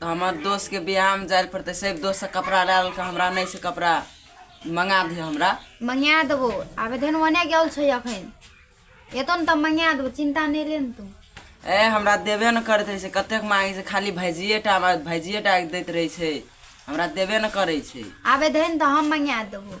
तऽ हमर दोस्तके बियाहमे जाए लए पड़तै से दोस्तसँ कपड़ा लए लेलकै हमरा नहि छै कपड़ा मङ्गा दिहऽ हमरा मंगा देबो आबे धन ओने गेल छै अखन एतो ने तऽ मंगा देबो चिंता नहि ले ने तू ए हमरा देबे ने करैत रहै छै कतेक मांगे छै खाली भैजिए टा हमरा भैजिए टा दैत रहै छै हमरा देबे ने करै छै आबे धन तऽ हम मंगा देबो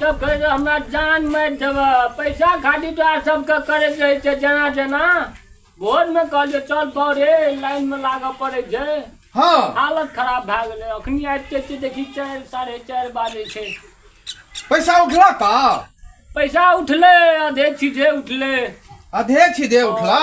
सब कहे जे हमरा जान मारि देबह पैसा खातिर तोरा सबके करैत रहै छै जेना जेना भोरमे कहलियै चल बौरे लाइनमे लागऽ पड़ै छै हँ हालत खराब भए गेलै अखनी आबिते छियै देखी चारि साढ़े चारि बाजै छै पैसा उठला का पैसा उठलै आधे चीजे उठलै अधे छी दे उठला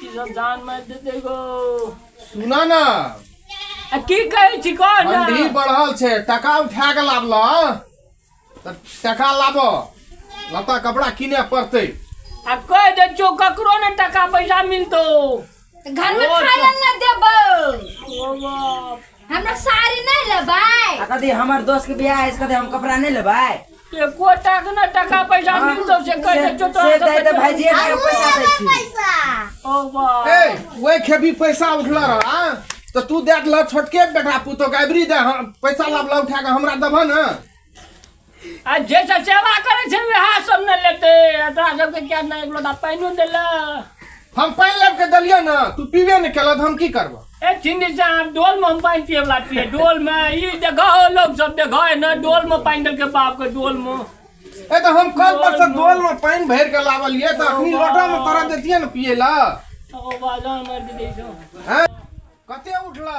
की सब जान मार देते गो सुना ना आ की कहै छी कह ना ठंडी बढ़ल छै टका उठा के लाबल तऽ टका लाब लता कपड़ा किने पड़तै आ कह दे छो ककरो ने टका पैसा मिलतो घर में ओ, खाए ला ना देबो ओ बाप हमरा साड़ी नहीं लेबै आ कथी हमर दोस्त के बियाह है से कथी हम कपड़ा नहीं लेबै एको टाक न टाका पैसा हाँ, मिलतो से कह दे जो से दे दे भाई जी के पैसा दै छी पैसा ओ बा ए वही खेबी पैसा उठल रह हाँ? तो तू दे दिल छोटके बेटा पुतो गाबरी दे हम पैसा लाबला उठा के हमरा देबह ने आ जे सब सेवा करै छै वएह सब ने लेते आ तोरा सबके क्या ना एक लोटा पानियो देला हम पानि लाबि के देलियै ने तू पीबे ने केलक हम की करबो ए छिंदी से हम डोल में हम पानि पिए वाला छियै डोल में ई देखो लोग सब देखो है ना डोल में पानि देलके बाप के डोल में ए तऽ हम कल पर से डोल मे पानि भरि के लावलियै तऽ अखनी लोटा मे तोरा देतियै ने पियै लए ओ बाजार मार दे दे छो हैं कते उठला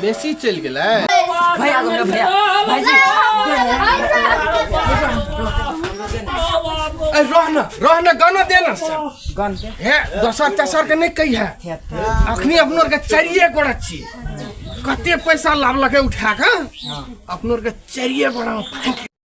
बेसी चलि गेलै भैया को मेरा भैया भाई जी ए, रह न रह न गाना दे न से। गन के हे दोसर तेसर के नहि कही है अखनी अपनो आरके चारिए गोड़ा छी कते पैसा लावलकै उठा कऽ अपनो आरके चारिए गोड़ा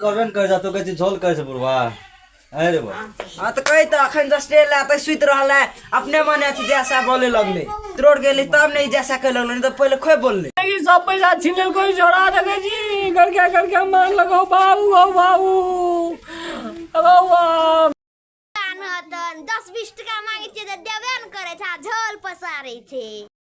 करबे ने करै तू कहै छी झोल करै छै बुढ़वा आँय रे बा हाँ तो कही तो अखन दस डेल आते सुत रहल है अपने मन अथी जैसा बोले लगले त्रोड़ गेली तब नहीं जैसा कह लगले नहीं तो पहले खोए बोलले लेकिन सब पैसा छीन लेल कोई झोरा देखे जी घर के घर के मार लगो बाबू हो बाबू अबो बाप कान हतन दस बीस टका मांगे छै तऽ देबे ने करे छै आ झोल पसारे छै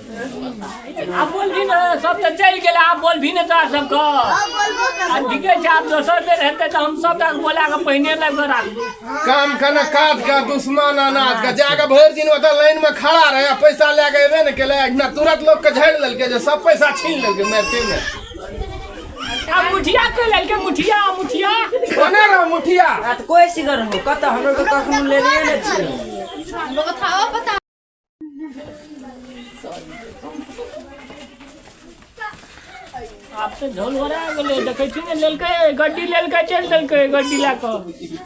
आब बोलभी ने सब तऽ चलि गेलै आब बोलभी ने तोरा सबके आ ठीके छै आब दोसर बेर हेतै तऽ हम सबटा बोला कऽ पहिने लग कऽ राखबै काम के ने काज के दुश्मन अनाज के जाके भरि दिन ओतऽ लाइन में खड़ा रहे आ पैसा लए के एबे ने केले ना तुरंत लोग के झाड़ि लेलकै जे सब पैसा छीन लेलकै मारिते में आ मुठिया कऽ लेलकै मुठिया मुठिया कोने रहो मुठिया आ तऽ कोइ सिगर हो कतऽ हमरो तऽ कखनो लेने नहि छियै आब तऽ झोल हो गेलै देखै छी ने लेलकै गड्डी लेलकै चलि देलकै गड्डी लए कऽ